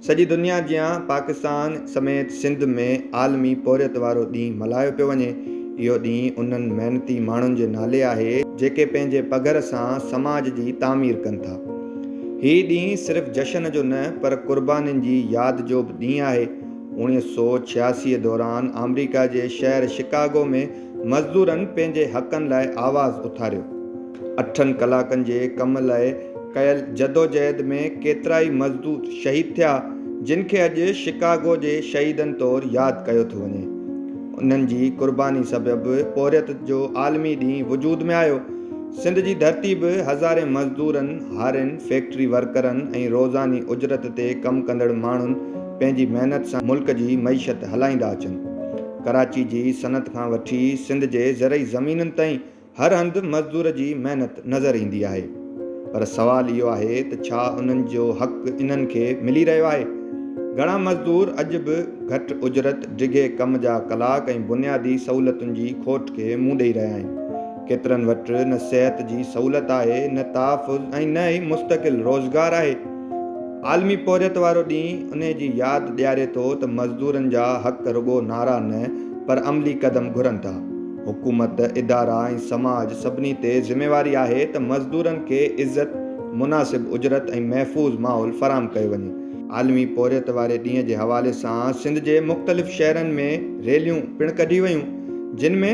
سڄي دنيا جيان پاڪستان سميت سنڌ ۾ عالمي پورهيت وارو ڏينهن ملهايو پيو وڃي. اهو ڏينهن انهن محنتي ماڻهن جي نالي آهي، جيڪي پنهنجي پگهر سان سماج جي تعمير ڪن ٿا. هي ڏينهن صرف جشن جو نه پر قربانين جي ياد جو به ڏينهن آهي. اوڻيهه سؤ ڇياسي دوران آمريڪا جي شهر شڪاگو ۾ مزدورن پنهنجي حقن لاء آواز اٿاريو. اٺن ڪلاڪن جي ڪم لاء ڪيل جدوجهد ۾ ڪيترائي مزدور شهيد ٿيا جن کي اڄ شڪاگو جي شهيدن طور ياد ڪيو ٿو وڃي. انهن جي قرباني سبب پورهيت جو عالمي ڏينهن وجود ۾ آيو. سنڌ جي ڌرتي به هزارين مزدورن، هارين، فيڪٽري ورڪرن ۽ روزاني اجرت تي ڪم ڪندڙ ماڻهن پنهنجي محنت سان ملڪ جي معيشت هلائيندا اچن. ڪراچي جي صنعت کان وٺي سنڌ جي زرعي زمينن تائين هر هنڌ مزدور جي محنت نظر ايندي آهي پر سوال اهو آهي ته ڇا انهن جو حق انهن کي ملي رهيو آهي؟ گهڻا مزدور اڄ به گهٽ اجرت، ڊگهي ڪم جا ڪلاڪ ۽ بنيادي سهولتن جي کوٽ کي منهن ڏئي رهيا آهن. ڪيترن وٽ نه صحت جي سهولت آهي، نه تحفظ ۽ نه ئي مستقل روزگار آهي. عالمي پورهيت وارو ڏينهن انهي جي ياد ڏياري ٿو ته مزدورن جا حق رڳو نعرا نه پر عملي قدم گهرن ٿا. حڪومت، ادارا ۽ سماج سڀني تي ذميواري آهي ته مزدورن کي عزت، مناسب اجرت ۽ محفوظ ماحول فراهم ڪيو وڃي. عالمي پورهيت واري ڏينهن جي حوالي سان سنڌ جي مختلف شهرن ۾ ريليون پڻ ڪڍي ويون جن ۾.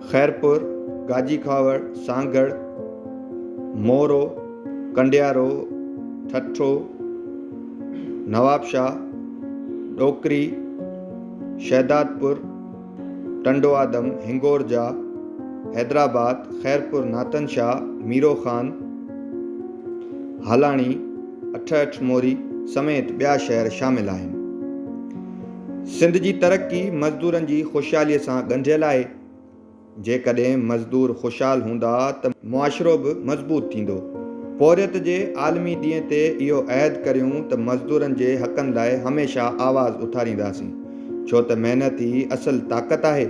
خيرپور، گاجي کاوڙ، سانگهڙ، مورو، ڪنڊيارو، ٺٽو، نوابشاهه، ڏوڪري، شهدادپور، ٽنڊوآدم، هنگورجا، حيدرآباد، خيرپور، ناتن شاهه، ميرو خان، هالاڻي، اٺهٺ موري سميت ٻيا شهر شامل آهن. سنڌ جي ترقي مزدورن جي خوشحالي سان ڳنڍيل آهي، جيڪڏهن مزدور خوشحال هوندا ته معاشرو به مضبوط ٿيندو. پورهيت جي عالمي ڏينهن تي اهو عهد ڪريون ته مزدورن جي حقن لاء هميشه آواز اٿارينداسين، ڇو ته محنت ئي اصل طاقت آهي.